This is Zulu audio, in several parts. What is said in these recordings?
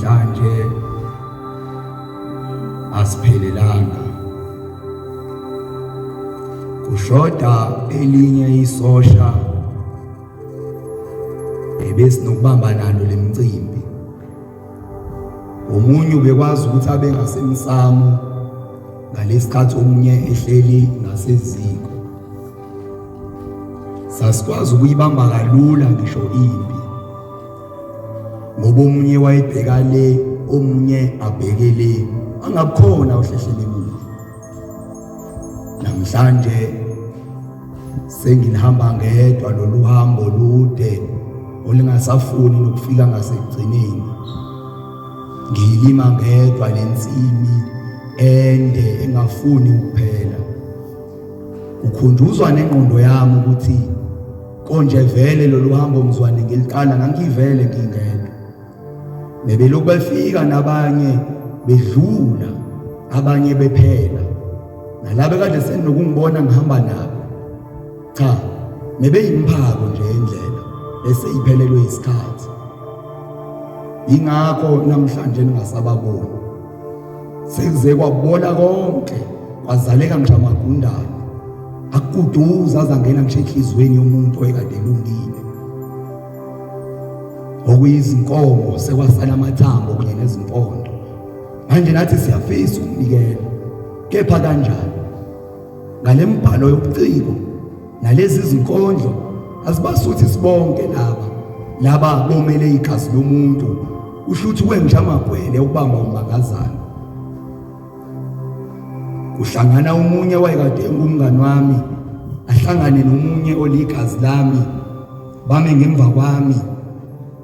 Kanje asiphelelanga. Kushoda elinye isosha ebesinokubamba nalo lemcimbi. Omunye ubekwazi ukuthi abe ngasemsamo ngalesikhathi omunye ehleli ngaseziko. Sasikwazi ukuyibamba kalula ngisho impi. ngoba omunye wayebheka le omunye abheke le angakhona uhlehlelemile namhlanje sengihamba ngedwa lolu hambo lude olingasafuni nokufika ngasekugcineni ngiyilima ngedwa lensimi ende engafuni ukuphela ukhunjuzwa nengqondo yami ukuthi Konje vele lolu hambo mzwane ngiliqala ngangivele ngingedwa. Bebelokhu befika nabanye bedlula abanye bephela. Nalabo kade senokungibona ngihamba nabo. Cha, nebeyimphako nje indlela bese iphelelwe isikhathi. Ingakho namhlanje ningasababoni. Sekuze kwabola konke kwazaleka ngisho amagundane akuduza azangena ngisho enhliziyweni yomuntu oyekade elungile okuyizinkomo sekwasala amathambo kunye nezimpondo manje nathi siyafisa ukunikela kepha kanjani ngalembhalo yobuciko nalezi zinkondlo azibasuthi sibonke laba laba bomele igazi lomuntu usho ukuthi kwenja amagwele ukubamba umbangazana uhlangana umunye wayekade engumngani wami ahlangane nomunye oligazi lami bame ngemva kwami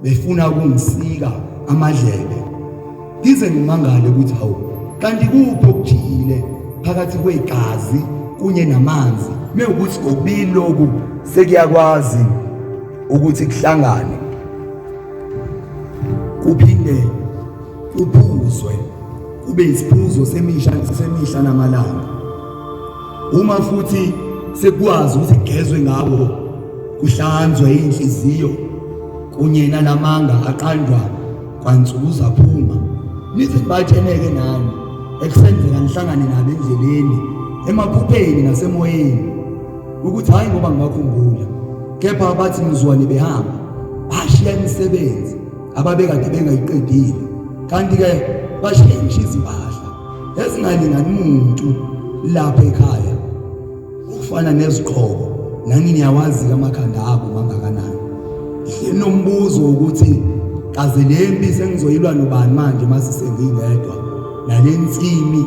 befuna ukungisika amadlebe ngize ngimangale ukuthi hawu kanti kuphi okujiyile phakathi kwegazi kunye namanzi mewukuthi kokubili lokhu sekuyakwazi ukuthi kuhlangane kuphinde kuphuzwe kube isiphuzo semihla semihla namalanga Uma futhi sekwazi ukuthi kugezwe ngabo kuhlanzwe inhliziyo kunye nalamanga aqandwa kwansuku zaphuma nithi batheneke nani ekusenzeka nihlangane nabo endleleni emaphupheni nasemoyeni ukuthi hayi ngoba ngibakhumbula kepha abathi ngizwane behamba bashiya imisebenzi ababekade bengayiqedile kanti-ke bashiya ngisho izimpahla ezingalingani muntu lapha ekhaya ukufana neziqhoko nami niyawazi amakhanda abo mangakanani nginombuzo ukuthi kaze le mpi sengizoyilwa nobani manje masisengingedwa nale nsimi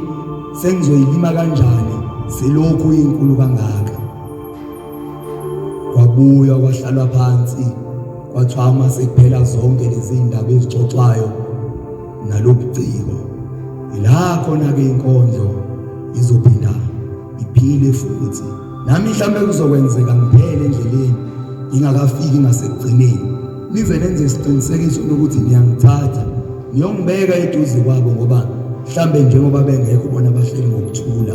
sengizoyilima kanjani selokhu inkulu kangaka kwabuya kwahlalwa phansi kwathiwa uma sekuphela zonke lezi ndaba ezixoxwayo nalobuciko ila khona ke inkondlo izophinda iphile futhi nami mhlambe kuzokwenzeka ngiphele endleleni ingakafiki ngasekugcineni nize nenze isiqinisekiso ukuthi niyangithatha niyongibeka eduze kwabo ngoba mhlambe njengoba bengekho bona bahleli ngokuthula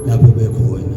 lapho bekhona